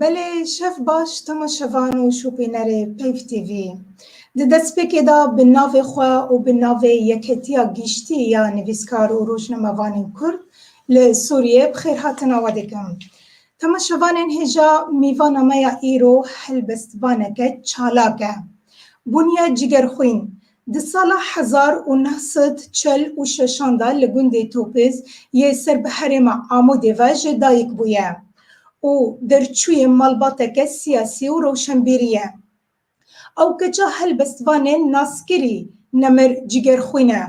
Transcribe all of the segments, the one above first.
Belê şev baş tama şevan û şopînerê Peyv TV. Di destpêkê de bi navê xwe û bi navê Yeketiya Giştî ya Nivîskar û Rojnamevanên Kurd li Sûriyê bi xêrhatina we dikim. Tama şevanên hêja mîvana me ya îro helbestvaneke çalak e. Bûniye cîgerxwîn, Di sala hezar û neh sed çel û şeşan de li gundê Topêz yê ser bi herêma Amûdê ve jê dayik bûye û derçûyê malbateke siyasî û rewşenbîrî ye. Ew keça helbestvanê naskirî nemir cîgerxwîn e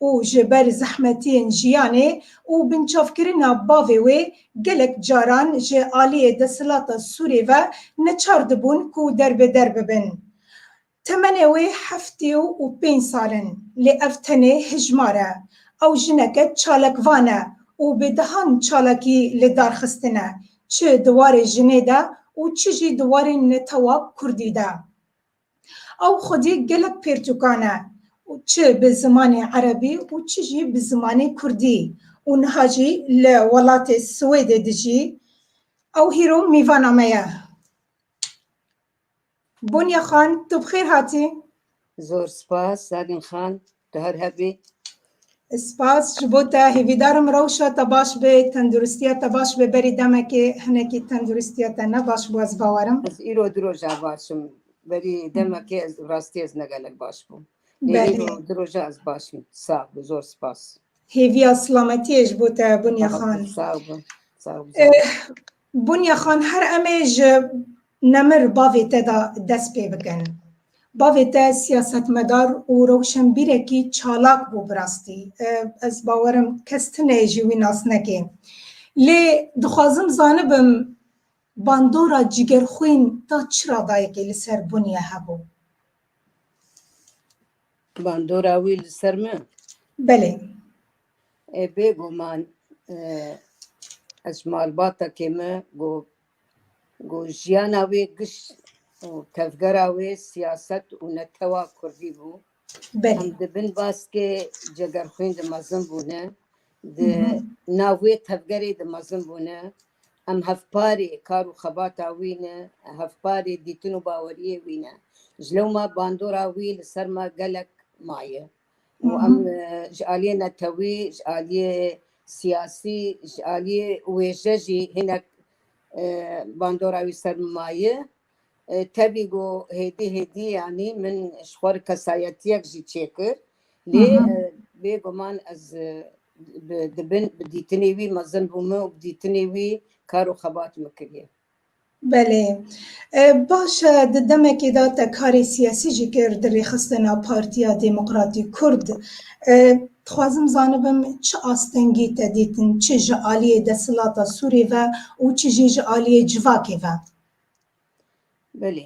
û ji ber zehmetiyên jiyanê û binçavkirina bavê wê gelek caran ji aliyê desthilata Sûrê ve neçar dibûn ku derbêder bibin. Temenê wê heftê û pênc sal in, lê ev tenê hijmar e. Ew jineke çalakvan e û bi dehan çalakî li dar xistine, çi di warê jinê de û çi jî di warê netewa kurdî de. Ew xwedî gelek pêrtûkan e, çi bi zimanê erebî û çi jî bi zimanê kurdî û niha jî li welatê Swêdê dijî. Ew hîro mîvana me ye. Bonî Xan, tu bi xêr hatî. Zor spas Zanî Xan, tu her hev bî. Spas ji bo te, hêvîdar im rewşa te baş be, tenduristiya te baş be, berî demekê hinekî tenduristiya te ne baş bû ez bawerim. Ez îro du roja baş im, berî demekê ez rastî ez ne gelek baş bûm. Lê îro du roja ez baş im. Sax bi, zor spas. Hêviya silametiyê ji bo te Bonî Xan. Sax bi, sax bi. Bonya Xan her emê ji Nemir bavê te de dest pê bikin. Bavê te siyasetmedar û rewşenbîrekî çalak bû bi rastî. Ez bawer im kes tune jî wî nas neke. Lê dixwazim zanibim bandora cîgerxwîn ta çira dayikê li ser Bonya hebû? Bandora wî li ser min? Belê. Bêguman ez ji malbatekê me got ku jiyana wê giş û tevgera wê siyaset û netewa kurdî bû. Belê. Em dibin baskê cegerxwîn di mezin bûne. Di nav wê tevgerê di mezin bûne. Em hevparê kar û xebata wî ne, hevparê dîtin û baweriyê wî ne. Ji lewma bandora wî li ser me gelek maye. û em ji aliyê netewî, ji aliyê siyasî, ji aliyê wêje jî hinek bandora wî ser min maye. Tevî got hêdî hêdî yanî min ji xwe re kesayetiyek jî çêkir. Lê bêguman ez bi dibin bi dîtinê wî mezin bûme û bi dîtinê wî kar û xebat min kiriye. Belê. Baş e, di demekê de te karê siyasî jî kir di rêxistina Partiya Demokratîk Kurd. Dixwazim zanibim çi astengî te dîtin çi ji aliyê desthilata Sûrê ve û çi jî ji aliyê civakê ve? Belê.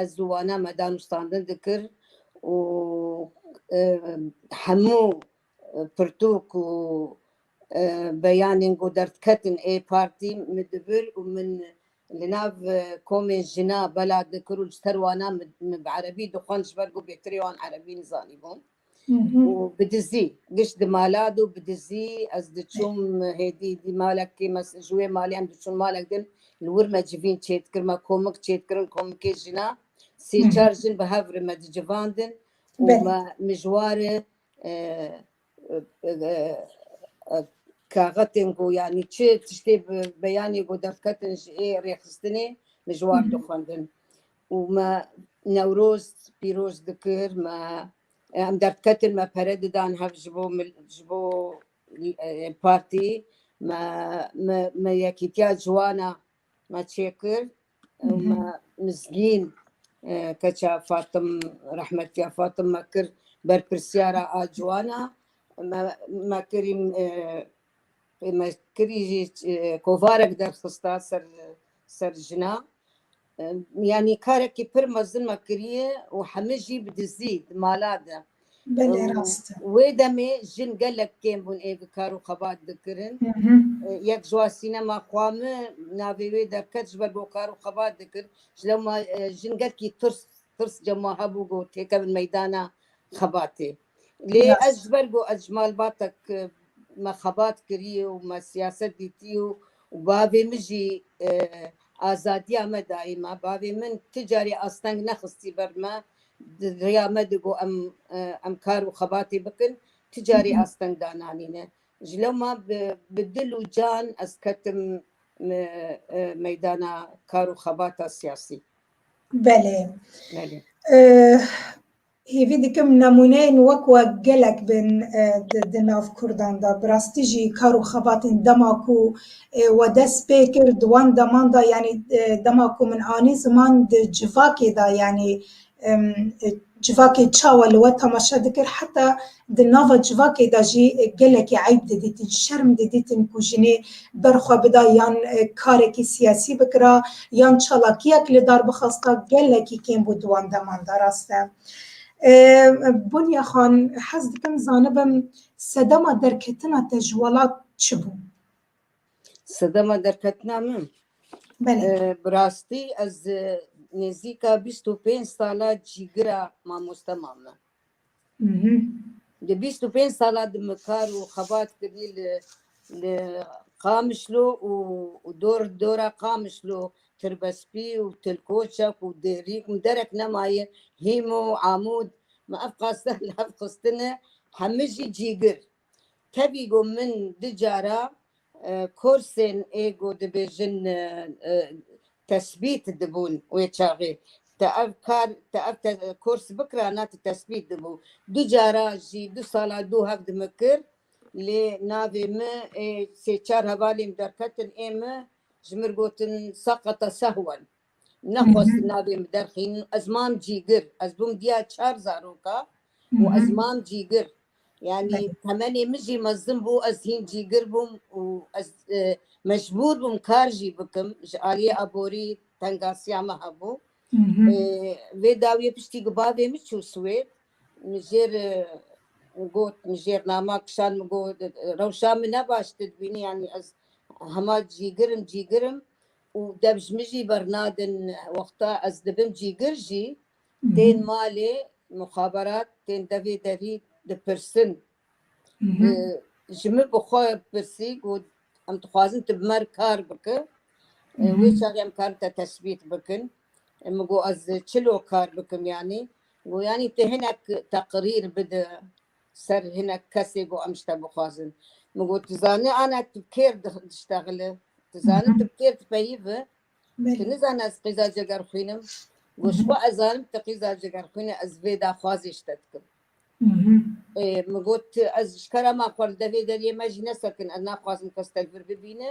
Ez ziwana me danûstandin dikir û hemû pirtûk û beyanên ku derdiketin ê partî min dibir û min li nav komên jina bela dikir û ji ser wana min bi erebî dixwend ji ber ku bêhtirê wan erebî nizanîbûn. û bi dizî giş di mala dû bi dizî ez diçûm hêdî dî malekê me ji wê malê em diçûn malek din li wir me civîn çê dikir me komik çê dikirin komikê jina sê çar jin bi hev re me dicivandin û Belê. me mijware e, e, e, e, kaxetên ku yanî çi tiştê bi- beyanê ku derketin ji ê rêxistinê mijwar dixwendin û me Newroz pîroz dikir, me em derdketin, me pere didan hev ji bo ji bo partî, me me me yekîtiya ciwana me çêkir û me mizgîn keça Fatim rehmetiya Fatim me kir berpirsyara a ciwana, me me kirî me kirî jî kovarek derxista ser ser jina yanî karekî pir mezin me kiriye û hemî jî bi dizî di mala de wê demê jin gelek kêm bûn ê bi kar û xebat dikirin yek ji wan sînema xwa min navê wê derket ji ber ku kar û xebat dikir ji lewma jin gelkî tirs tirs cema hebû ku têkevin meydana xebatê Lê ez ji ber ku ez ji malbatek me xebat kiriye û me siyaset dîtiye û bavê min jî azadiya me dayê me, bavê min ti carî asteng nexistî ber me, di riya me de ku em em kar û xebatê bikin ti carî asteng dananîne. Ji lewma bi bi dil û can ez ketim meydana kar û xebata siyasî. Belê. Belê. Hêvî dikim nemûneyên wek we gelek bên di nav Kurdan de. Bi rastî jî kar û xebatên dema ku we dest pê kir di wan deman de yanî dema ku min anî ziman di civakê de yanî civakê çawa li we temaşe dikir heta Di nava civakê de jî gelekî eyb didîtin, şerm didîtin ku jinê ber xwe bida yan karekî siyasî bikira yan çalakiyek li dar bixwasta gelekî kêm bû di wan deman de. Rast e Bonya Xan hez dikim zanibim sedema derketina te ji welat çi bû? Sedema derketina min? Belê. Bi rastî ez nêzîka bîst û pênc sala cîgira mamoste mame. Di bîst û pênc sala di min kar û xebat kirî li li Qamişlo û dor dora Qamişlo Tirbespî û Tilkoçek û Dêrî û derek nemaye Hîmo û Amûd me ev qastel hevxistine hemijî cîgir Tevî got min du cara korsên ê ku dibêjin tesbît dibûn wê çaxê. Te ev kar te ev kors bikira na tu tesbît dibû. Du cara jî du sala dû hev di min kir lê navê min ê sê çar hevalên derketin ê min ji min gotin seqeta sehwen. Nexwest navê min derxînin. Ez mam Cîgir. Ez bûm diya çar zaroka û ez mam Cîgir. Yanî temenê min jî mezin bû, ez hîn Cîgir bûm û ez e, mecbûr bûm kar jî bikim. Ji aliyê aborî tengasiya min hebû. E, Vê dawiyê piştî ku bavê min çû Swêd, min jêr e, got min jêr nama kişand min got e, rewşa min ne baş te dibînî yanî ez hema Cîgirim Cîgirim û dev ji min jî bernadin wexta ez dibim cîgir jî tên malê muxaberat tên devê derî dipirsin ji min bi xwe pirsî got em dixwazin tu bi mer kar bike wê çaxê em karin te tesbît bikin min got ez çilo kar bikim yanî got yanî tu hinek teqirîr bide ser hinek kesê ku em ji te bixwazin. Min got, tu zanî ana tu bi kêr diştexile? Tu zanî tu bi kêr dipeyivî? Tu nizanî ez qîza ceger xwînim? Got, ji bo ez zanim tu qîza ceger xwînî ez vê daxwazê ji te dikim. Min got, ez ji kera me xwe li devê deriyê me jî nesekin, ez naxwazim kes te li vir bibîne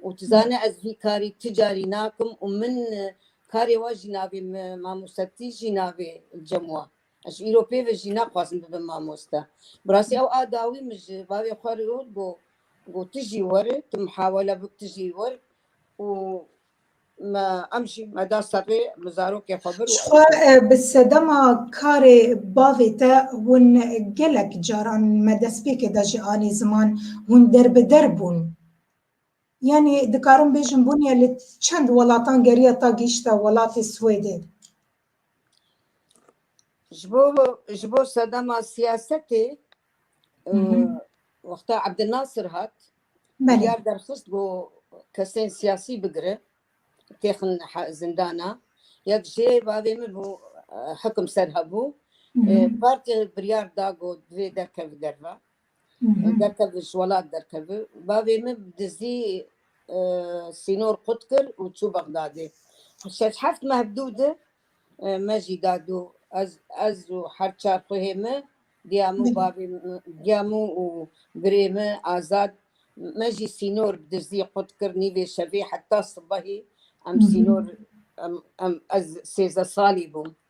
û tu zanî ez vî karî tu carî nakim û min karê we jî navê, min mamosetî jî navê cem we. Ez îro pêve jî naxwazim bibim mamoste. Bi rastî ew a dawî min ji bavê xwe re got got got tu jî were tu mihawele bik tu jî wer û me em jî me da serê bi zarokê xwe bir û Jixwe bi sedema karê bavê te hûn gelek caran me destpêkê de ji alî ziman hûn derbider bûn. Yanî dikarim bêjim bûniye li çend welatan geriya ta gihîşte welatê Swêdê. Ji bo ji bo sedema siyasetê e, wexta Abdülnasır hat Belê. diyar derxist ku kesên siyasî bigire têxin he- zindana yek jê bavê min bû e, hekim ser hebû E, partê biryar da ku divê derkeve derve derkevin ji welat derkevin. Bavê min bi dizî sînor qut kir û çû Bexdadê. Şeş heft meh bi dû di me jî da dû. Ez ez û her çar xuhê min diya min û bavê min diya min û birê min Azad me jî sînor bi dizî qut kir nîvê şevê heta sibehî em sînor em em ez sêzdeh salî bûm.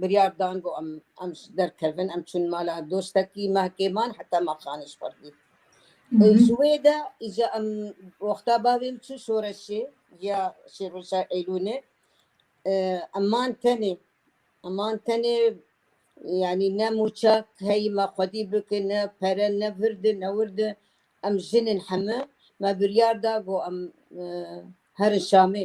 Biryar dan ku em em derkevin, em çûn mala dostekî me kêman heta ma xanê ji xwe dît. Ji wê de îca em wexta bavê min çû şoreşê ya şêrweşa Eylûlê em man tenê. Em man tenê yanî ne mûça heyî me xwedî bikin, ne pere, ne virdi, ne wirdi. Em jin in heme. Me biryar da ku em herin Şamê.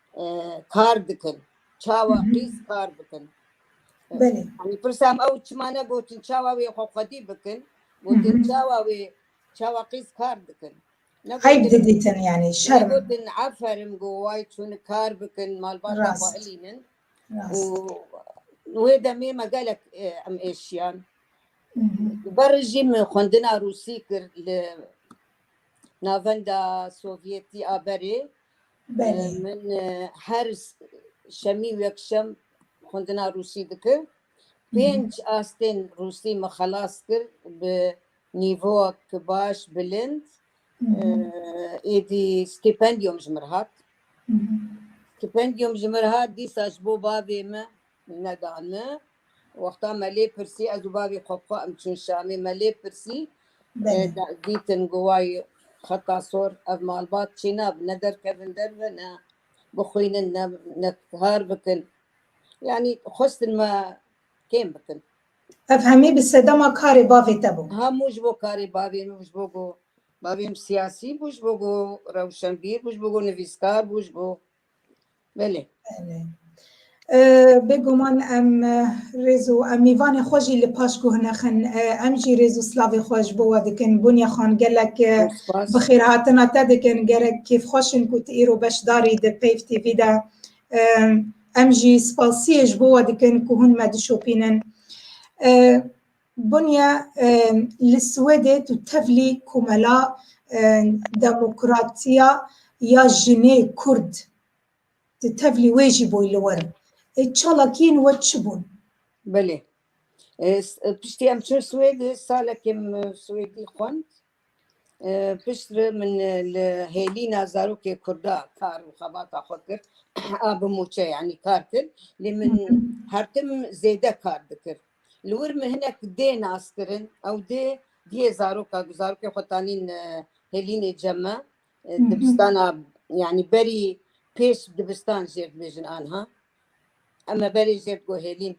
kar dikin. Çawa Hı hı. qîz kar bikin. Belê. Hani pirsam ew çima ne gotin çawa wê xwe xwedî bikin. Hı Gotin hı. çawa wê çawa qîz kar dikin. Ne Eyb gotin didîtin yani ne şerm. gotin aferin go way çûnik kar bikin malbata xwe Rast. ilînin. Û Rast. wê demê me gelek e, em êşiyan. Hı hı. Ber jî min xwendina Rûsî kir li navenda Sovyetî a berê. Belê. Min e, her şemî û yekşem xwendina Rûsî dikir. Pênc astên Rûsî min xelas kir bi nîvowek baş, bilind. E, Êdî stîpendiyom ji min hat. Stîpendiyom ji min hat dîsa ji bo bavê min Nedane. Wexta me lê pirsî ez û bavê xwe bi xwe em çûn Şamê me lê pirsî dîtin ku way xeta sor ev malbat çê nabin ne derkevin derve ne bixwînin ne kar bikin yanî xwestin me kêm bikin. Ev hemî bi sedema karê bavê te bû? Hemû ji bo karê bavê min bû ji bo ku bavê min siyasî bû ji bo ku rewşenbîr bû ji bo ku nivîskar bû ji bo Belê. Belê. Bêguman em rêz û em mîvanê xwe jî li paş guhnexin. Em jî rêz û slavê xwe ji bo we dikin. Bûnya xan gelek bi xêrhatina te dikin. Gerek kêfxweşin ku tu îro beşdarî di Peyv TV de. Em jî spasiyê ji bo we dikin ku hûn me dişopînin. Bonya li Swêdê tu tevlî komela demokratiya ya jinê kurd tu tevlî wê jî bûy li wir. Ê çalakiyên we çi bûn? Belê. Piştî em çûn Swêdê salekê min Swêdî xwend. Pişt re min li hêlîna zarokê kurda kar û xebata xwe kir. A bi mûçe yanî kar kir. Lê min her tim zêde kar dikir. Li wir min hinek dê nas kirin, ew dê diyê zaroka ku zarokê xwe tanîn e, hêlînê cem e. E, hı. Dibistana yanî berî pêş dibistan jêr dibêjin anha. Em e berê jêr digo hêlîn.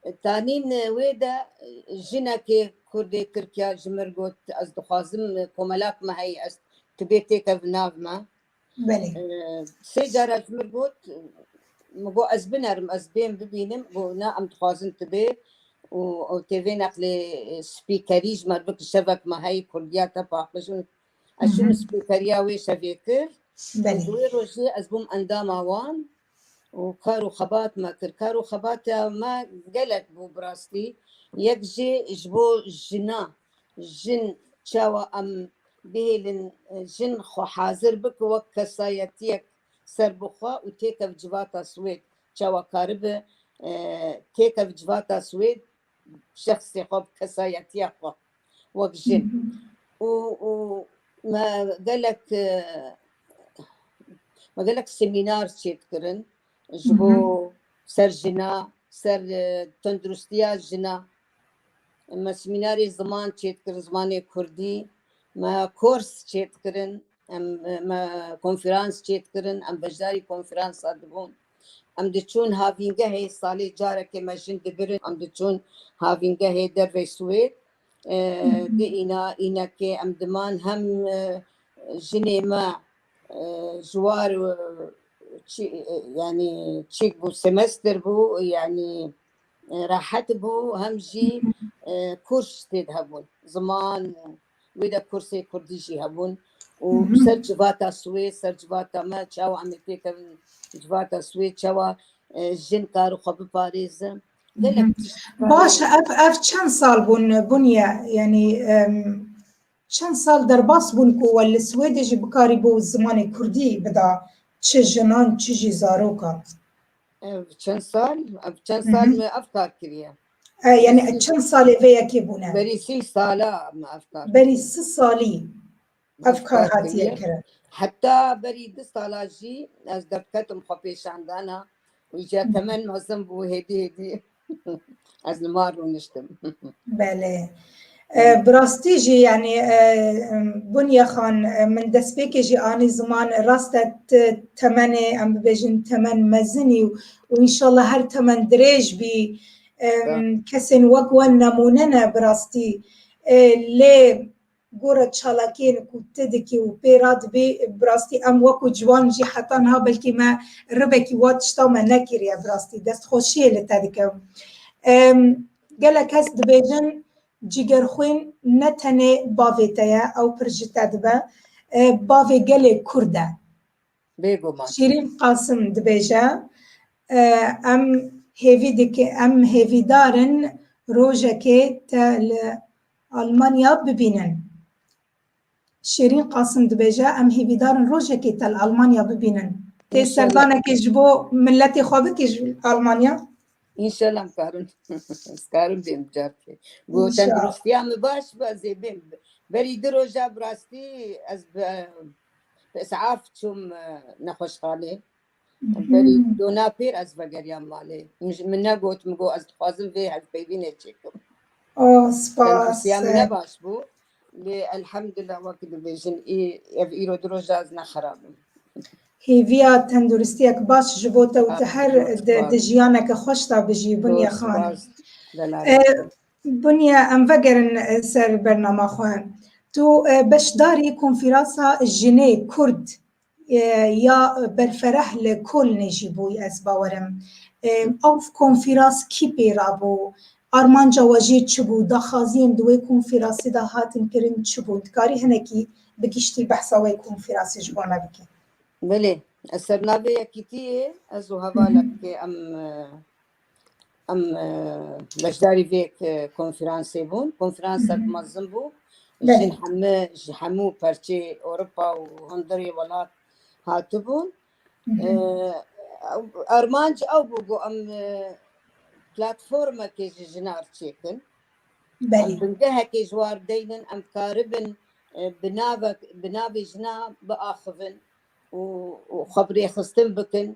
E, Tanîn e, wê de e, jinekê Kurdê Tirkiya ji min got ez dixwazim e, komelak me heyî ez tibê têkevin nav me. Belê. Sê cara ji min got min got ez binerim ez bêm bibînim got na em dixwazin tu bê û ew tê vê neqlê spîkerî ji me bik şevek me heyî kurdiya te paqij û ez çûm spîkeriya wê şevê kir û di wê rojê ez bûm endama wan û kar û xebat me kir. Kar û xebata me gelek bû bi rastî. Yek jî ji bo jina, jin çawa em bihêlin jin xwe hazir bike wek kesayetiyek serbixwe û têkev civata Swêd, çawa karibe têkev civata Swêd. şexsê xwe bi kesayetiya xwe wek jin û û me gelek e, me gelek semînar çêdikirin ji bo ser jina ser e, tenduristiya jina me semînarê ziman çêdikirin zimanê kurdî me kors çêdikirin Em me konferans çêdikirin, em beşdarî konferansa dibûn. Em diçûn havîngehê salê carekê me jin dibirin, em diçûn havîngehê dervê Swêd. Di îna înekê em diman hem jinê me jiwar yani çêk bû semester bû yani rahat bû hem jî kurs têd hebûn ziman wê de kursê kurdî jî hebûn û ser civata swê ser civata me çawa em ê pêkevin civata swê çawa jin kar xwe biparêzin Baş ev ev çend sal bûn bûniye yanî çend sal derbas bûn ku we li Swêdê jî bikarî bû zimanê Kurdî bida çi jinan çi jî zarokan. Ev çend sal ev çend sal me ev kar kiriye. Yani çend salê vê yekê bûne? Berî sî sala me ev kar. Berî si salî ev kar hatiye kirin. Heta berî du sala jî ez derketim xwe pêşandana û ji temen mezin bû hêdî hêdî ez li mar rûniştim. Belê. Bi rastî jî yanî Buniye Xan min destpêkê jî anî ziman rast e ti temenê em bibêjin temen mezinî û înşallah her temen dirêj bî kesên wek we nemûne ne bi rastî lê gora çalakiyên ku ti dikî û pê radibî bi rastî em wek û ciwan jî heta niha belkî me rivekî wa tişta me nekiriye bi rastî destxweşiyê li te dikim. Gelek kes dibêjin cîgerxwîn ne tenê bavê te ye, ew pir ji te dibe, bavê gelê Kurd e. Bêguman. Şîrîn Qasim dibêje, Em hêvî dikin, em hêvîdar in rojekê te li Almanya bibînin. Şêrîn Qasim dibêje, Em hêvîdar in rojekê te li Almanya bibînin. Tê serdanekê ji bo miletê xwe bikî ji Almanya? Înşela karim ez karim bêm carkê. Got Înşela. tenduristiya min baş be ez ê bêm. Berî du roja bi rastî ez bi bi is'af çûm e, nexweşxanê. Berî dona pêr ez vegeriyam malê. Min ji min negot, min got ez dixwazim vê hevpeyvînê çêkim. Oh, spas. Tendistiya min ne baş bû. Lê elhemdullah wek dibêjin ê ev îro du roj ez ne xerab im. Hêviya tenduristiyek baş ji bo te û tu her di jiyaneke xweş de bijî Bunya Xan. Bunya em vegerin ser bernama xwe. Tu beşdarî konfîransa Jinê Kurd ya Berfereh li Kolnê jî bûy ez bawerim. Ew konfîras kî pê ra bû? Armanca we jê çi bû? Daxaziyên di wê konfîrasî de hatin kirin çi bûn? Dikarî hinekî bi giştî behsa wê konfîrasê ji bo me bikî? Belê. Li ser navê yekîtiyê ez û hevalek em Em e, beşdarî vê konferansê bûn. Konferansa mezin bû. Jin heme ji hemû perçê Ewropa û hundirê welat hatibûn. E, Armanc ew bû ku em e, platformekê ji jinar çêkin. Em bingehekê ji war deynin, em karibin e, bi navek- bi navê jina biaxivin. û xwe bi rêxistin bikin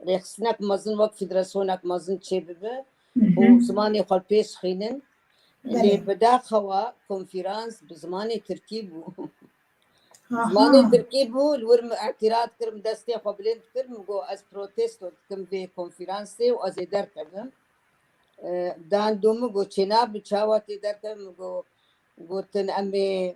rêxistinek mezin wek fîdresyonek mezin çêbibe û zimanê xwe pês xînin lê bi daxewa konfîrans bi zimanê tirkî bû zimanê tirkî bû li wir min îtîrat kir min destê xwe bilind kir min got ez protesto dikim vê konfîransê û ez ê derkevim dan dû min got çêna bi çawa tê derkevin min got gotin em ê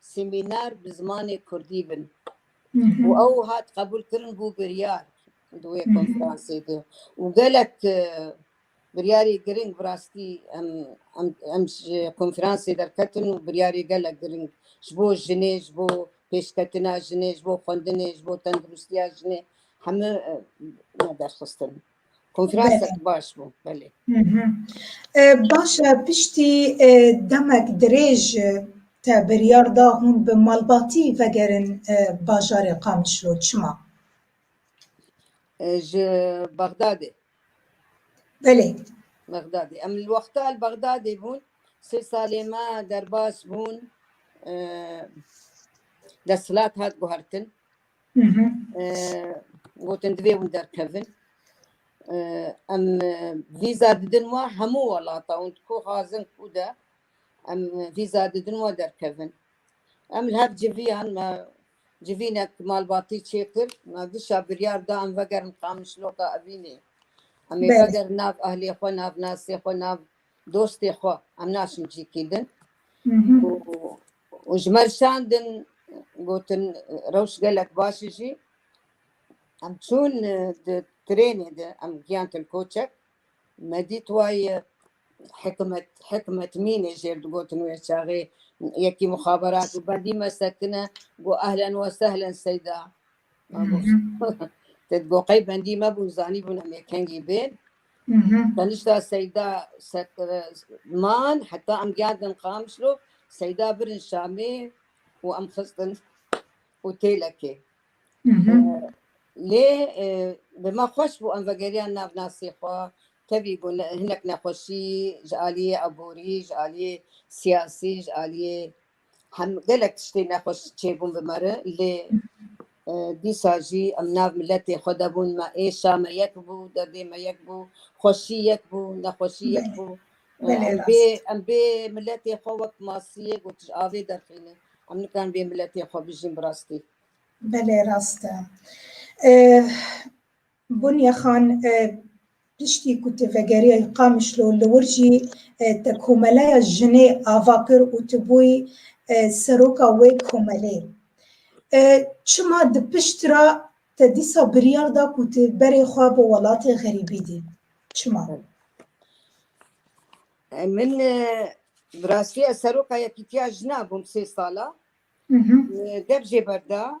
semîner bi zimanê kurdî bin û ew hat qebûlkirin bû biryar di wê konferansê de û gelek biryarê giring bi rastî em ji konferansê derketin û biryarê gelek giring ji bo jinê ji bo pêşketina jinê ji bo xwendinê ji bo tenduristiya jinê hemû me derxistin. Konferansek baş bû belê. Baş e piştî demek dirêj te biryar da hûn bi malbatî vegerin bajarê Qamişlo çima? Ji Bexdadê. Belê. Bexdadê. Em li wexta li Bexdadê bûn sê salê me derbas bûn desthilat hat guhertin. gotin divê hûn derkevin em vîza didin wa hemû welata hûn ku xazin ku de em vîza didin wa derkevin em li hev civiyan me civînek malbatî çêkir me dişa biryar da em vegerin qamişloka evînê em ê vegerin nav ahlê xwe nav nasê xwe nav Dostê xwe em naşin cî kî din û ji me şan din gotin rewş gelek baş jî em çûn di trênê de em giyan tilkoçek me dît wayê hikmet hikmet mînê jêr digotin wê çaxê yekî muxaberat û bendî me sekine got ehlen we sehlen seyda te got qey bendî me bûn zanî bûn em yekengî bên Tenişta Seyda man heta em gerdin Qamişlo Seyda birin Şamê û em xistin otelekê. Lê bi me xweş bû em vegeriyan nav nasê xwe tevî bû hinek nexweşî ji aliyê aborî ji aliyê siyasî ji aliyê Hem gelek tiştê nexweş çêbûn bi me re lê dîsa jî em nav miletê xwe de bûn me êşa me yek bû derdê me yek bû xweşî yek bû nexweşî yek bû bê em bê miletê xwe wek masiyê got avê derxîne em nikan bê miletê xwe bijîn bi rastî Belê rast e. Bunya Xan, Piştî ku tu vegeriya li Qamişlo li wir jî te komeleya jinê ava kir û tu bûyî seroka wê komelê. Çima di pişt re te dîsa biryar da ku tu berê xwe bi welatê xerîbî dî? Çima? Min bi rastî ez seroka Yekîtiya Jinan bûm sê sala. Dev jê berda.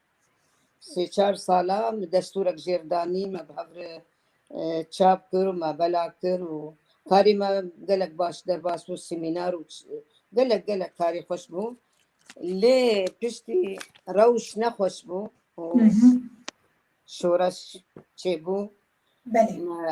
Sê çar sala me destûrek jêr danî, me bi hev re çap kir û me bela kir û karê me gelek baş derbas bû, semînar û gelek gelek karê xweş bû. Lê piştî rewş nexweş bû û şoreş çêbû. Me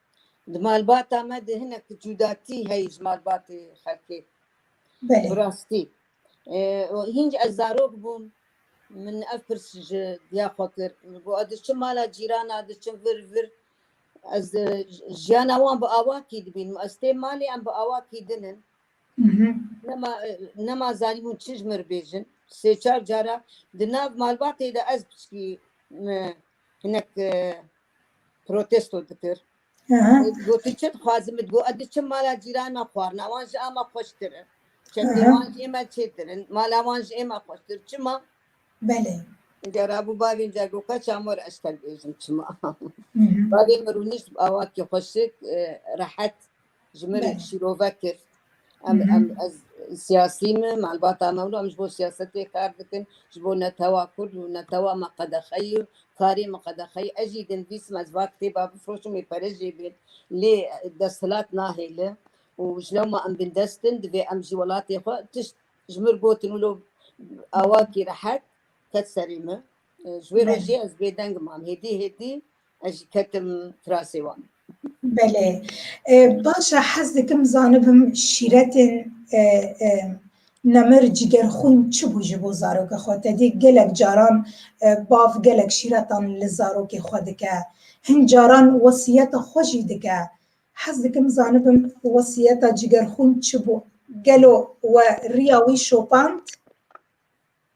Di malbata me de hinek cudatî heye ji malbatê xelkê. Bi rastî hînc ez zarok bûm min ev pirs ji diya xwe kir. Min got ez diçim mala cîrana diçim vir vir ez jiyana wan bi awa kî dibînim. Ez têm malê em bi awa kî din in. Nema nema zanîbûn çi ji min re bêjin. Sê çar cara di nav malbatê de ez piçikî me hinek e, protesto dikir. Aha. Gotu çi dixwazim min got ez diçim mala cîran me xwarina wan ji ama xweştir e. Çekê Aha. wan ji ême çêtir in mala wan ji ême xweştir çima Belê. Înca rabû bavên ca got ka çamor ez tevbêjim çima. Mhm. Bavê min rûnişt bi awakî xweşik e, rehet ji min Belê. şîrovek kir em Mhm. em ez siyasî me malbata me wilo em ji bo siyasetê kar dikin ji bo netewa kurd û netewa me qedexeyî û karê min qedexeyî ez jî dinivîsim ez va kitêba bifroşim wê pere jê bêt lê desthilat nahêle û ji lewma em bindestin divê em jî welatê xwe tişt ji mir gotin wilo awakî rehet ket serê min E, ji wê Belê. rojê ez bêdengim mam hêdî hêdî Ez jî ketim firasê wan. Belê. Baş e hez dikim zanibim şîretên nemir cîgerxwîn çi bû ji bo zaroka xwe tedî gelek caran bav gelek şîretan li zarokê xwe dike hin caran wesiyeta xwe jî dike hez dikim zanibim wesiyeta cîgerxwîn çi bû gelo we riya wî şopand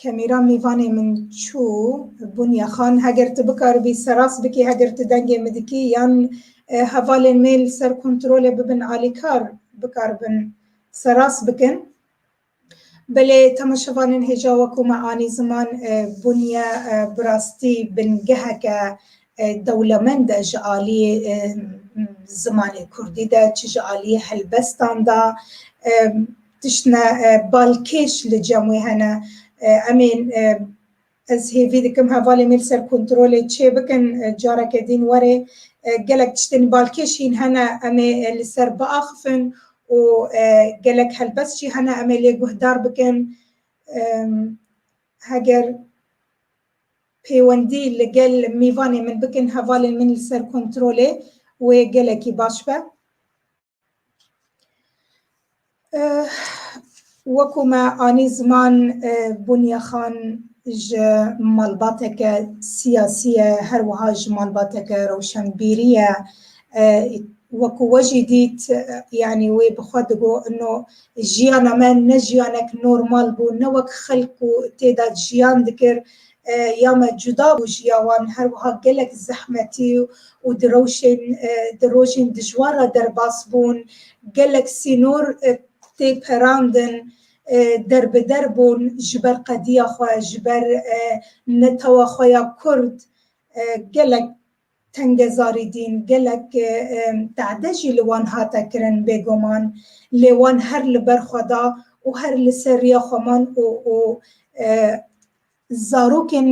Kemîra mîvanê min çû Bunya xan heger tu bikaribî seras bikî heger tu dengê min dikî yan hevalên me li ser kontrolê bibin alîkar bikaribin seras bikin. Belê temaşevanên hêja wekû me anî ziman Bunya bi rastî bingeheke dewlemend e ji aliyê zimanê kurdî de çi ji aliyê helbestan de. Tiştine balkêş li cem wê hene. Em ê ez hêvî dikim hevalên wê li ser kontrolê çêbikin careke dîn were. Gelek tiştên balkêş hîn hene em ê li ser biaxifin û gelek helbest jî hene em ê lê guhdar bikin. Heger pêwendî li gel mîvanê min bikin hevalên min li ser kontrolê wê gelekî baş be. Wekû me anî ziman Bûnye Xan ji malbateke siyasî ye her wiha ji malbateke rewşenbîrî ye. Wekû we jî dît yanî wê bi xwe digot ino jiyana me ne jiyanek normal bû ne wek xelk ku têda jiyan dikir ya me cuda bû ji ya wan her wiha gelek zehmetî û di rewşên di rojên dijwar re derbas bûn, gelek sînor tê perandin, der bi der bûn ji ber qediya xwe, ji ber netewa xwe ya kurd gelek tengezarî dîn, gelek tade jî li wan hate kirin bêguman lê wan her li ber xwe da û her li ser riya xwe man û zarokên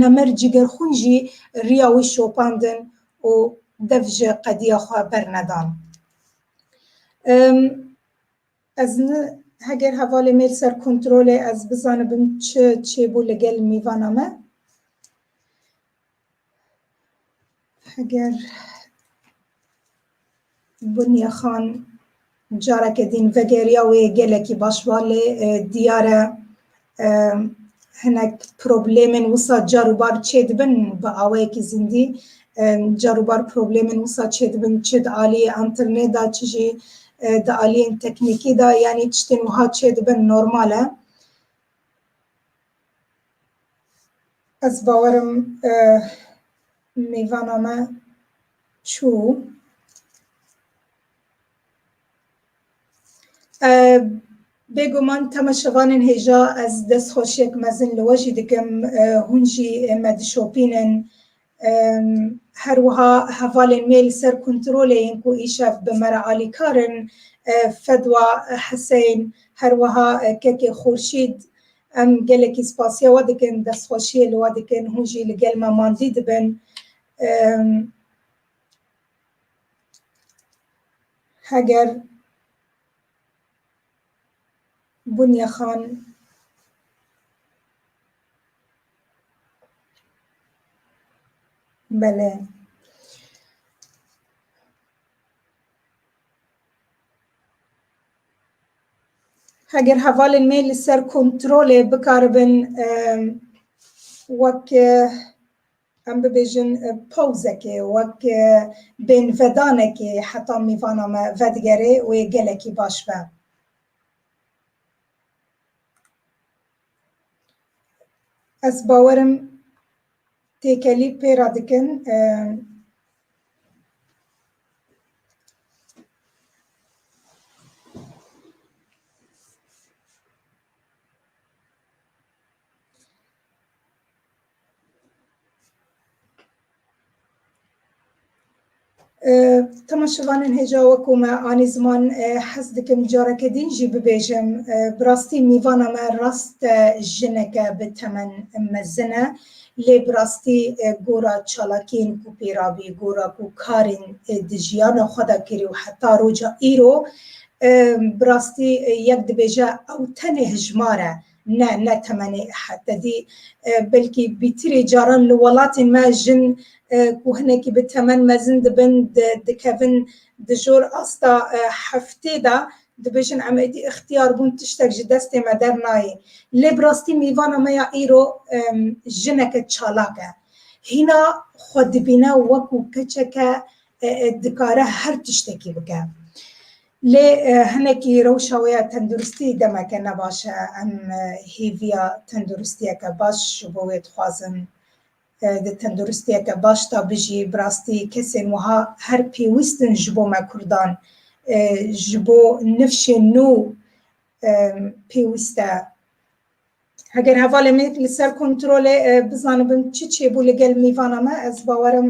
nemir cîgerxwîn jî riya wî şopandin û dev ji qediya xwe bernedan. Ez ne, heger hevalê me li ser kontrol e, ez bizanibim çi çêbû li gel mêvana me. Heger Bunya Xan careke din vegeriya wê gelekî baş va lê diyar e hinek problemên wisa car û bar çêdibin bi awayekî zindî car û bar problemên wisa çêdibin çi di aliyê entirnê da çi jî di aliyên teknîkî da yanî tiştên wiha çêdibin normal e ez bawerim mêvana me çû Bêguman tema şevanên hêja ez destxweşiyek mezin li we jî dikim, hûn jî me dişopînin. Her wiha hevalên me li ser kontrolê yên ku îşev bi me re alîkar in. Fedwa Heseyn, her wiha kekê Xurşîd. Em gelekî spasiya we dikin, destxweşiyê li we dikin, hûn jî li gel me mandî dibin. Heger Bunya Xan Bele. Heger hevalên me li ser kontrolê bikaribin wek Em bibêjin pawzekê wek bênvedanekê heta mîvana me vedigerê wê gelekî baş be. Ez bawer im têkelî pêra dikin. Temaşevanên hêja wekû me anî ziman hez dikim careke dîn jî bibêjim bi rastî mîvana me rast e jineke bi temen mezin e lê bi rastî gora çalakiyên ku pêra bî gora ku karên di jiyana xwe de kirî û heta roja îro bi rastî yek dibêje ew tenê hijmar e Ne ne temenê hetedî belkî bîtirê caran li welatên me jin ku hinekî bi temen mezin dibin dikevin di jor asta heftê de dibêjin em êdî îxtiyar bûn tiştek ji destê me dernayê. Lê bi rastî mêvana me ya îro jineke çalak e. Hîna xwe dibîne wekû keçeke dikare her tiştekî bike. Lê hinekî rewşa wê ya tenduristî demeke ne baş e. Em hêviya tenduristiyeke baş ji bo wê dixwazin. Di tenduristiyeke baş de bijî. Bi rastî kesên wiha her pêwîst in ji bo me Kurdan. Ji bo nifşên nû pêwîst e. Heger hevalên me li ser kontrolê bizanibin çi çêbû li gel mîvana me ez bawerim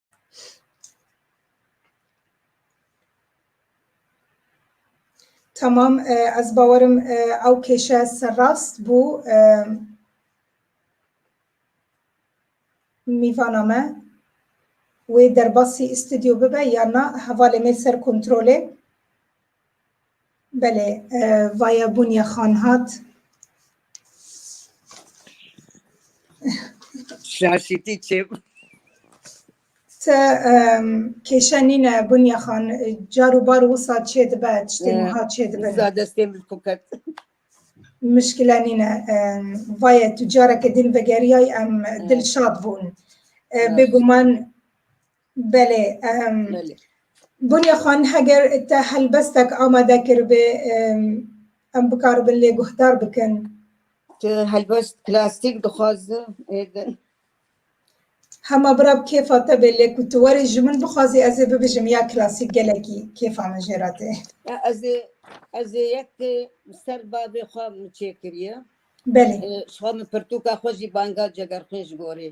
Tamam ez bawerim ew kêşe serrast bû mîvana me wê derbasî îstidyo bibe ya na hevalê me ser kontrolê. Belê, vaya Bûnya Xan hat. Şaşîtî çê bû. Te kêşe nîne Bûnya Xan, car û bar wisa çê dibe, tiştê wiha çê dibe. Wisa destê min xwe ket. Mişkile nîne. Vayê tu careke din vegeriyay em dilşad bûn. Bêguman Belê. Belê. Bûnê xan heger te helbestek amade kiribê em bikaribin lê guhdar bikin. Tu helbest plastik dixwazin êdin. Hema birab kêfa te bê lê ku tu werî ji min bixwazî ez ê bibijim ya klasîk gelekî kêfa min jê re tê. Ez ê ez ê yek ser bavê xwe min çêkiriye. Belê. Xwe min pirtûka xwe jî banga cegerxwîn ji gorî.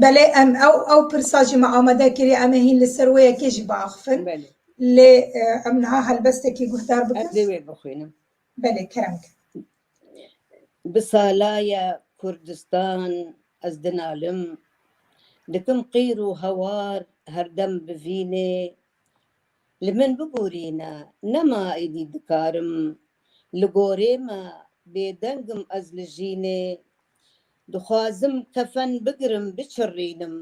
Belê em ew ew pirsa jî me amade kirî em ê hîn li ser wê yekê jî biaxivin. Belê. Lê em niha helbestekî guhdar bikin. Ez ê wê bixwînim. Belê kerem kir. Bi salaya Kurdistan ez dinalim. Dikim qîr û hawar herdem bi vînê Li min bigurîne nema êdî dikarim li gorê me bêdengim ez li jînê dixwazim kefen bigirim biçirrînim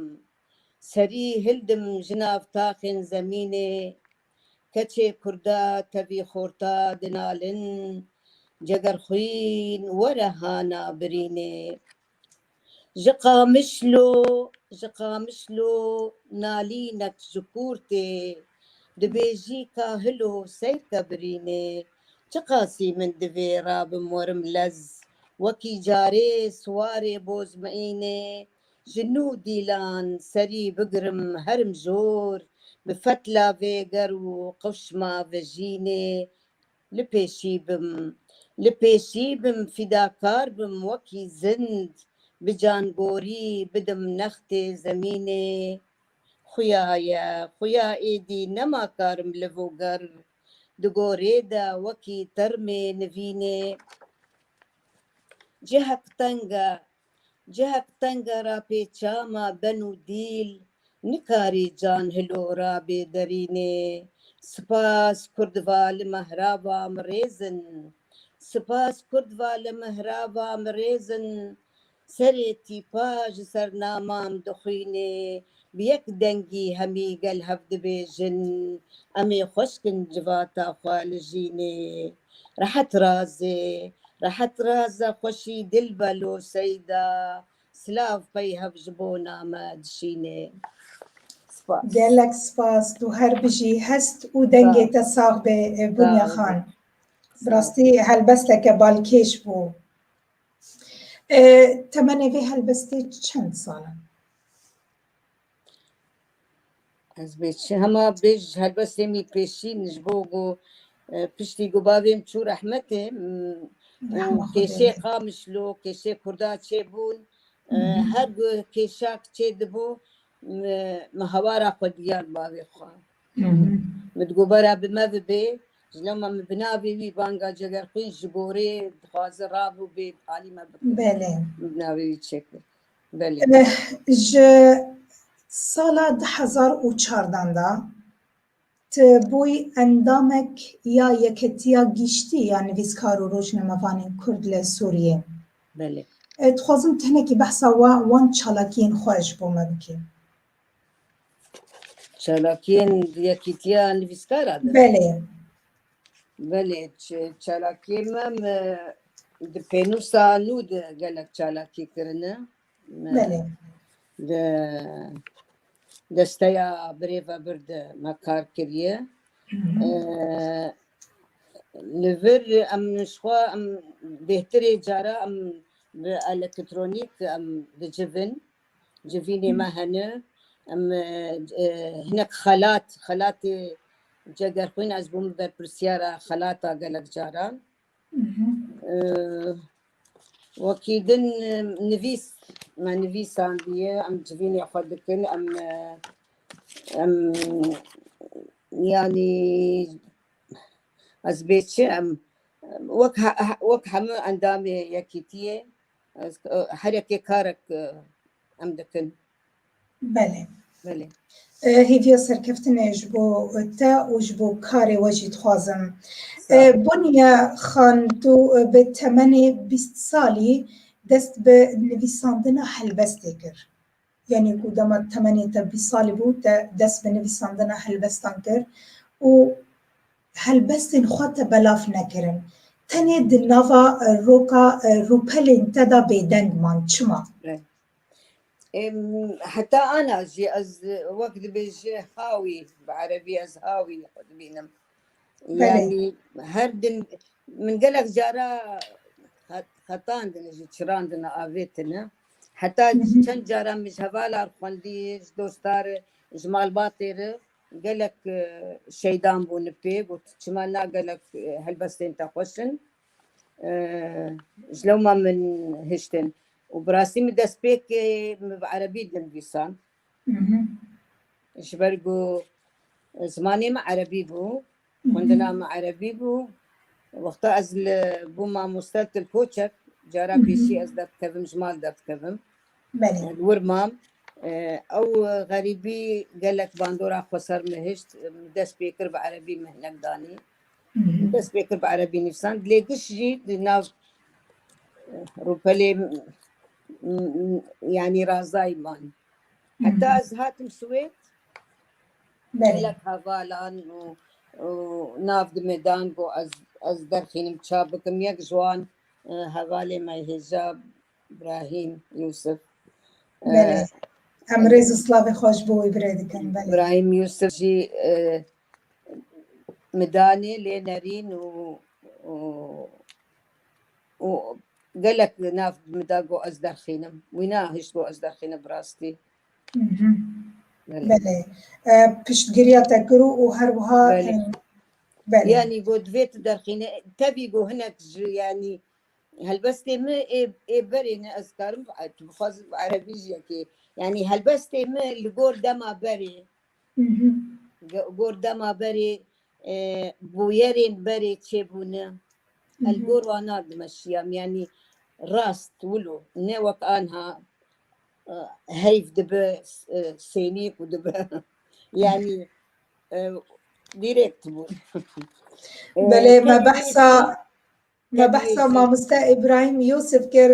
serî hildim ji nav taxên zemînê keçê kurda tevî xorta dinalin cegerxwîn were hana birînê. Ji Qamişlo Ji Qamişlo nalînek ji Kûrtê dibêjî ka hilo seyr ke birînê çiqasî min divê rabim werim lez wekî carê siwarê boz miînê ji nû dîlan serî bigirim herim jor bi fetla vêger û qewşma vejînê Li pêşî bim, li pêşî bim, fîdakar bim wekî zind, bi cangorî bidim nextê zemînê. Xuya ye, xuya êdî nema karim liv û ger di gorê de wekî termê nivînê. Cihek teng e, Cihek tenga ra pê çama ben û dîl nikarî can hilo ra bê derînê. Spas kurd va li mehra va mi rêz in. Spas kurd va li mehra va mi rêz in. Serê tîpa ji ser namam dixwînê Bi yek dengî hemî gel hev dibêjin, Em ê xweşk in civata xwe li jînê. Rehet razê, rehet raze xweşî dil be lo Seyda, Silav qey hev ji bona me dişînê. Spas. Gelek spas, tu her bijî, hest û dengê te sax be Bunya Xan. Bi rastî helbesteke balkêş bû. Temenê vê helbestê çend sal in? Ez bê çi hema bê ji helbestê mî pêşîn ji bo ku e, piştî ku bavê min çû rehmetê m- û Rehma Xwedê kêşê lê. qamişlo kêşê kurda çêbûn e, Mhm. her ku kêşak çêdibû mi mi hawara xwe diyan bavê xwe Mhm. mi di gobara bi me bibê ji lama min bi navê wî banga Cegerxwîn ji gorê dixwaze rabû bê alî me bikir Belê. min bi navê wî çêkir Ji sala du hezar û çardan de tu bûyî endamek ya Yeketiya Giştî ya Nivîskar û Rojnamevanên Kurd li Sûriyê. Dixwazim tenekî behsa wan çalakiyên xwe ji bo me bikî. Çalakiyên Yekîtiya Nivîskara de. Belê. Belê, ç- çalakiyê me me di pênûsa nû de gelek çalakî kirine. Me Belê. di desteya birêvebir de me kar kiriye. Mhm. Ee, Li vir em ji xwe em bêhtirê cara em bi elektronîk em dicivin. Civînê me hene, em hinek xelat, xelatê cegerxwîn ez bûm berpirsyara xelata gelek caran. Wekî din nivîs me nivîsandiye em civînê xwe dikin em em yanî ez bê çi em wek wek hemû endamê yekîtiyê Herekê karek em dikin. Belê. Belê. Hêviya serkeftinê ji bo te û ji bo karê we jî dixwazim. Boniye Xan tu bi temenê bîst salî dest bi nivîsandina helbestê kir. Yanî ku dema temenê te bîst salî bû te dest bi nivîsandina helbestan kir û Helbestên xwe te belav nekirin. Tenê di nava roka rûpelên te de bêdeng man. Çima? Heta ana jî ez wek dibêje hawî, bi erebî ez hawî xwe dibînim. Yanî her din min gelek cara xetandine jî çirandine avê tune. Heta çend cara min ji hevalan re xwendî, ji dostan re, ji malbatê re. Gelek şeydan bûn pê got çima na gelek helbestên te xweş in ji lewma min hiştin û bi rastî min dest pêkê min bi erebî dinivîsan ji ber ku zimanê min erebî bû Xwendina me erebî bû. Wexta ez li bû mamoste til koçek cara pêşî ez derdikevim ji mal derdikevim. Belê. Li wir mam. Ew xerîbî gelek bandora xwe ser min hişt. Min dest pê kir bi erebî min hinek danî. Min dest pê kir bi erebî nivîsan. Lê giş jî di nav rûpelê yanî razdayî man. Heta ez hatim Swêd Gelek hevalan û nav dime dan ku ez derxînim çap bikim. Yek ji wan hevalê me hêja Brahîm Yûsif. Belê. Em rêz û slavê xwe ji bo wê bire dikin. Belê. Brahîm Yûsif jî min danê lê nerîn û û gelek nav min da ku ez derxînim. Wî nehişt ku ez derxînim bi rastî. Belê. Piştgiriya te kir û û her wiha Belê. belê. Yanî got divê tu derxîne tevî got hinek ji yanî helbestê min ê ê berê ne ez karim e, tu bixwazim bi erebî jî yekê. Yanî helbestê min li gor dema berê Mhm. ge- gor dema berê e, bûyerên berê çêbûne el gor wan nadime şiyam yanî rast wilo ne wek anha Heyf dibe sênî ku dibe yanî direkt bû. Belê me behsa me behsa mamoste İbrahim Yusuf kir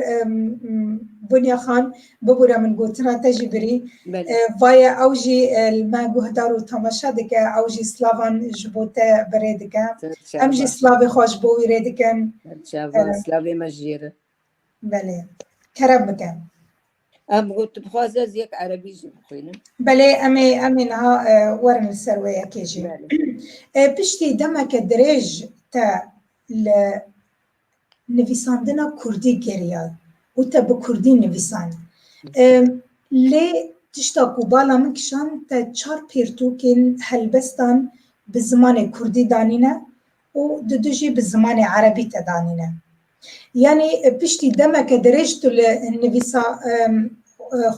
Bunya Xan bibûre min gotina te jî birî. Vaye ew jî li me guhdar û temaşe dike ew jî slavan ji bo te birê dike. Em jî slavê xwe ji bo wî rê dikin. Slavê me jî Belê. Kerem bike. Em got tu bixwaz ez yek erebî jî bixwînim. Belê em ê em ê niha e, werin li ser wê yekê jî. E, Piştî demeke dirêj te li nivîsandina Kurdî geriyay û te bi Kurdî nivîsan. E, Lê tişta ku bala min kişand te çar pirtûkên helbestan bi zimanê Kurdî danîne û di du jî bi zimanê erebî te danîne. Yanî piştî demeke dirêj tu li nivîsa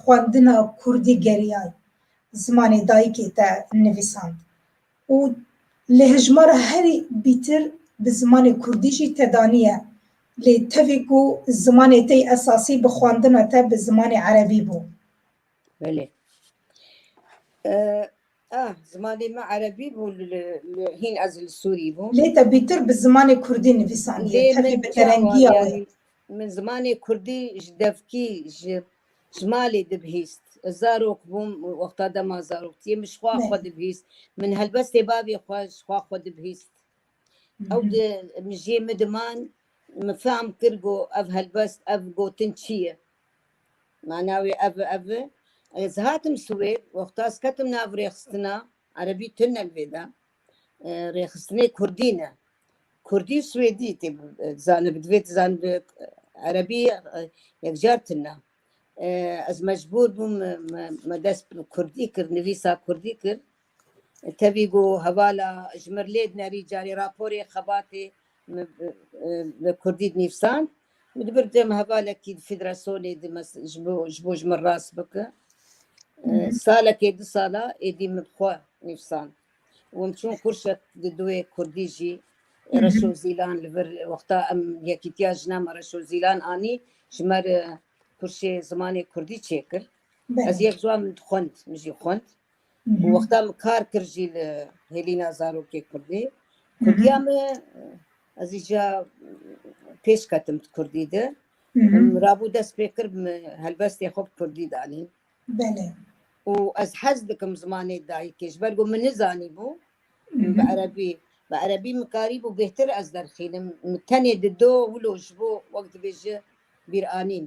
xwendina kurdî geriyayî, zimanê dayikê te nivîsand û lê hejmara herî bîtir bi zimanê kurdî jî te daniye, lê tevî ku zimanê te yê esasî bi xwendina te bi zimanê erebî bû. Belê. Ah, zimanê me erebî bû hîn ez li Sûrî bûm. Lê te bîtir bi zimanê kurdî nivîsandiye tevî bi terengiya wê. Min zimanê kurdî ji devkî ji ji malê dibihîst. Ez zarok bûm wexta dema zaroktiyê min ji xwe xwe dibihîst. Min helbestê bavê xwe ji xwe xwe dibihîst. Ew di mijiyê min diman min fehm kir ku ev helbest ev gotin çi ye. Mana wê ev e, ev e. Ez hatim Swêd, wexta ez ketim nav rêxistina, erebî tune li vê de, rêxistinê kurdî ne. Kurdî û swêdî tê zanibin, divê tu zanibî erebî yekcar tune. Ez mecbûr bûm me dest bi kurdî kir, nivîsa kurdî kir. Tevî got, Hevala ji mir lê dinerî carê raporê xebatê min bi kurdî dinivîsand. Min di bir dem hevalekî di federasyonê di ji bo ji bo ji min rast bike. Salekê du sala êdî min bi xwe nivîsand. Wim çûn kurşek di duyê kurdî jî reş û zîlan li vir wexta em Yekîtiya Jinan me reş û zîlan anî ji me re kurşê zimanê kurdî çêkir. Ez yek ziwan min dixwend, min jî xwend. û wexta min kar kir jî li hêlîna zarokê kurdî kurdiya min ez ê jî pêş ketim di kurdî de rabû dest pê kir min helbestê xwe bi kurdî danîn û ez hez dikim zimanê dayikê ji ber ku min nizanîbû bi erebî bi erebî min karîbû bêhtir ez derxînim min tenê di do wilo ji bo wek dibêje bîranîn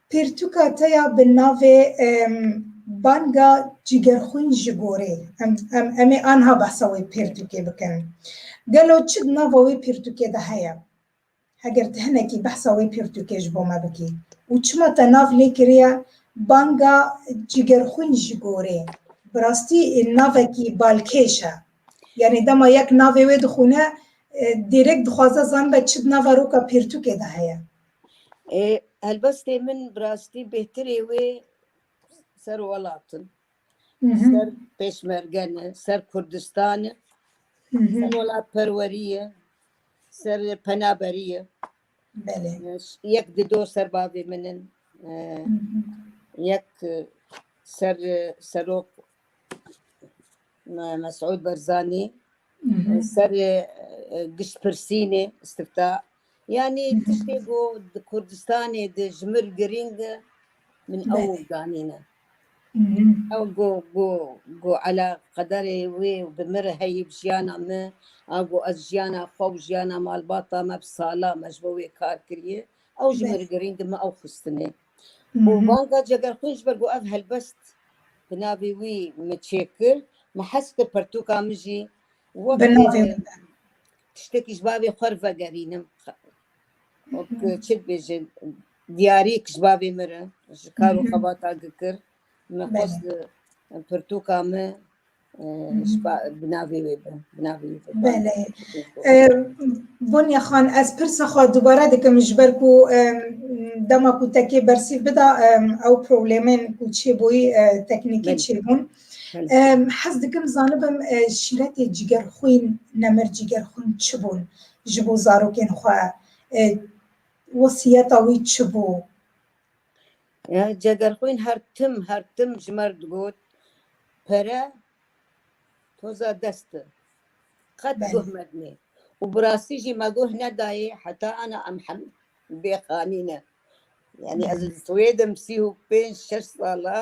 Pirtûka te ya bi navê Banga Cîgerxwîn ji gorê, em em ê anha behsa wê pirtûkê bikin. Gelo çi di nava wê pirtûkê de heye? Heger tu hinekî behsa wê pirtûkê ji bo me bikî û çima te nav lê kiriye Banga Cîgerxwîn ji gorê? Bi rastî navekî balkêş e. Yanî dema yek navê wê dixwîne, dîrêk dixwaze zanibe çi di nava roka pirtûkê de heye. Helbestê min bi rastî bêhtirê wê ser welat in. Ser pêşmerge ne, ser Kurdistan e, ser welatperwerî ye, ser penaberî ye. Yek di do ser bavê min in. Yek ser serok Mesûd Barzanî, ser giştpirsînê, istifta Yanî tiştê ku di Kurdistanê di ji mir girîng e min ew Belê. zanîne. Ew ku ku ku ela qederê wê û bi mir heyî bi jiyana me a ku ez jiyana xwe û jiyana malbata me bi salan me ji bo wê kar kiriye ew ji mir girîng e min ew xistinê. Û banga Cegerxwîn ji ber ku ev helbest bi navê wî min çêkir min hes kir pertûka min jî wek Bi navê wî be. Tiştekî ji bavê xwe re vegerînim. Çi dibêjin diyariyek ji bavê min re ji kar û xebata gikir min xwest pirtûka min bi navê wê bi bi navê wê bi. Belê. Bonya xan ez pirsa xwe dubare dikim ji ber ku dema ku tekê bersîv bida ew problemên ku çêbûyî teknîkî çêbûn. Hez dikim zanibim şîretê cîgerxwîn, nemir cîgerxwîn çi bûn ji bo zarokên xwe? Wesîyeta wî çi bû? Cegerxwîn her tim her tim ji me re digot pere toza dest e. Qet guh medinê. Û bi rastî jî me guh nedayê heta ana em hemin bêxanîne. Yani ez li Swêd im sî û pênc şeş sal e.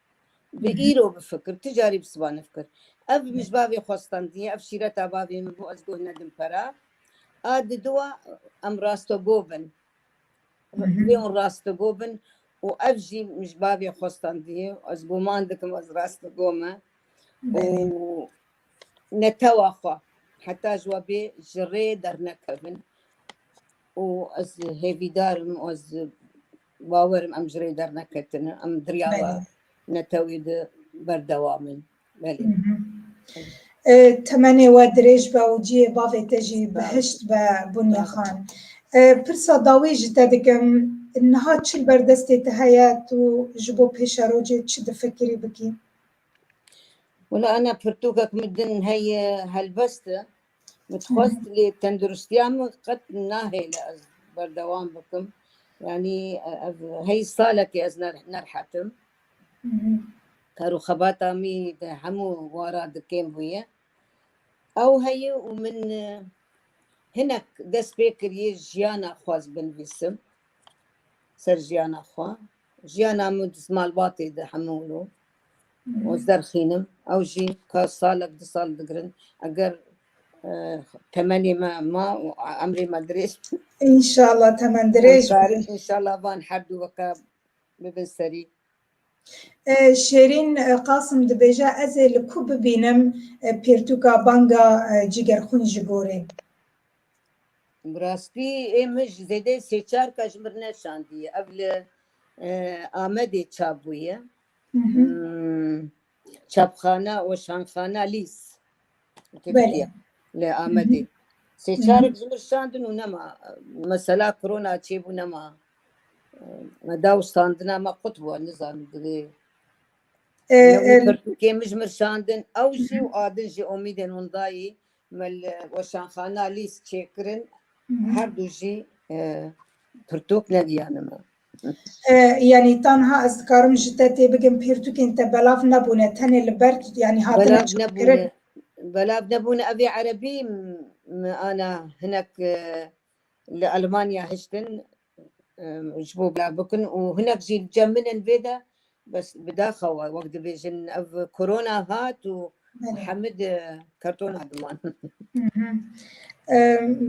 Bi îro bifikir, tu carî bi siba nefikir. Ev bi mij bavê xwe standî, ev şîreta bavê min bû, ez guh nedim pera. A di diwa em rastogo bin. Wê hûn rastogo bin û ev jî mij bavê xwe standî, ez guman dikim ez rastogo me. Û netewa xwe heta ji we bê ji rê dernekevin. Û ez hêvîdar im û ez Bawer im em ji rê derneketine, em diryara netewê de berdewam in. Belê. Temenê we dirêj be û cihê bavê te jî bihişt be Bunya Xan. Pirsa dawî ji te dikim, niha çi li ber destê te heye, tu ji bo pêşerojê çi difikirî bikî? Wila ene pirtûkek min din heye helbest e, Dixwest lê tenduristiya min qet nahêle ez berdewam bikim. Yanî ev hey salekê ez nerhetim. Kar û xebata mî di hemû wara dikêm bûye. Ew heye û min hinek dest pê kiriye jiyana xwe ez binivîsim. Ser jiyana xwe. Jiyana min di malbatê di hemû ez derxînim ew jî ka salek du sal digirin eger temenê me ma û emrê me dirêj İnşallah temen dirêj karin inşallah van her du weke bibin serî Şêrîn Qasim dibêje ez ê li ku bibînim pêrtûka banga cîgerxwîn ji bo rê. Bi rastî ê min ji zêdeyê sê çar ka ji mir neşandiye ev li Amedê çap bûye. Çapxana û şanxana lîs Tirkiye li Amedê. Sê çarek ji min şandin û nema mesela korona çêbû nema me daw şandina me qut bû nizanim divê Kê min ji min şandin ew jî û adin jî omîdên hûn dayî Me li weşanxana lîst çêkirin, her du jî pirtûk negiyanime. Yanî tenha ez dikarim ji te têbikim pirtûkên te belav nebûne tenê li ber yanî hatine çêkirin. Belav nebûne ev ê erebî me ana hinek Li Elmanya hiştin ji bo belav bikin û hinek jî li cem min in vê de bes bi daxa we wek dibêjin ev korona hat û hemid kartona diman.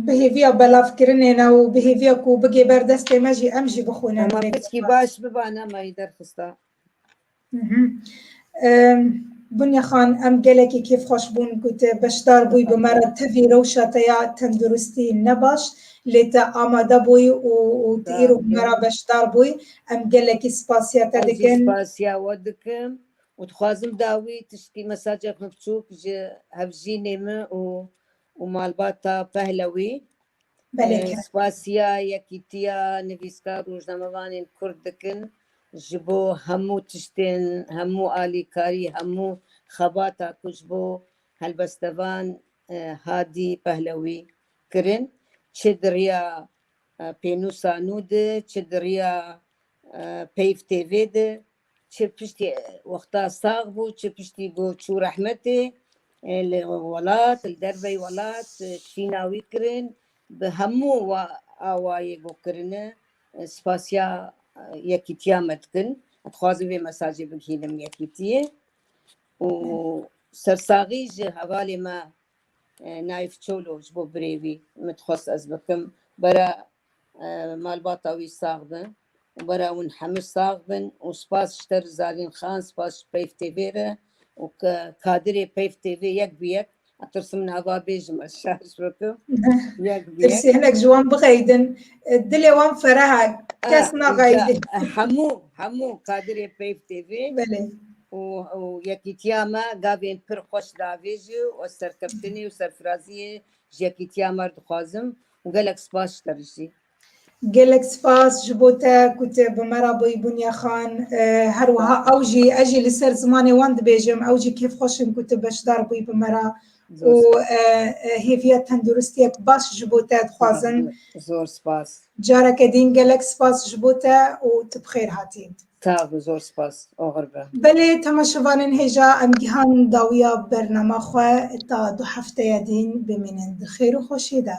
Bi hêviya belavkirinê ne û bi hêviya ku bigê ber destê me jî em jî bixwînin. Em ê piskî baş bibane me yî derxista. Bunya Xan em gelekî kêfxweş bûn ku te beşdar bûyî bi me re tevî rewşa te ya tenduristî ne baş lê te amade bûyî û tu îro bi me re beşdar bûyî em gelekî spasiya te dikin. Ez jî spasiya we dikim û dixwazim dawî tiştî mesajek min biçûk ji hevjînê min û û malbata Pehlewî spasiya Yekîtiya Nivîskar û Rojnamevanên Kurd dikin ji bo hemû tiştên, hemû alîkarî, hemû xebata ku ji bo helbestevan Hadî Pehlewî kirin çi di riya pênûsa nû di, çi di riya peyv têvê di. Çi piştî wexta sax bû, çi piştî bû çû rehmetê li welat, li derveyî welat şîna wî kirin. Bi hemû awayê bo kirine spasiya yekîtiya me dikin. Ez dixwazim vê mesajê bigihînim yekîtiyê û sersaxî ji hevalê me Naif Çolo ji bo birê wî min dixwest ez bikim. Bera malbata wî sax be û bara hûn hemû sax bin û spas ji te Rizalîn Xan, spas ji Peyv TV re û kadirê Peyv TV yek bi yek etirsim nava bêjim ez şer ji bo tu yek bi yek. Tirsî hinek ji wan bixeydin dilê wan fereh e kes naxeydin. Hemû hemû kadirê Peyv TV û yekîtiya me gavên pir xweş davêjî û ez serkeftinê û serfiraziyê ji yekîtiya me dixwazim û gelek spas ji te bijî. Gelek spas ji bo te ku tu bi me re bûyî Bunya Xan. Her wiha ew jî ez jî li ser zimanê wan dibêjim, ew jî kêfxweş in ku tu beşdar bûyî bi me re û hêviya tenduristiyek baş ji bo te dixwazin. Zor spas. Careke din gelek spas ji bo te û tu bi xêr hatî. Sağ ol, zor spas. Ağır be. Belê temaşevanên hêja em gihan dawiya bernama xwe ta du hefteye dîn bimînin di xêr û xweşiyê de.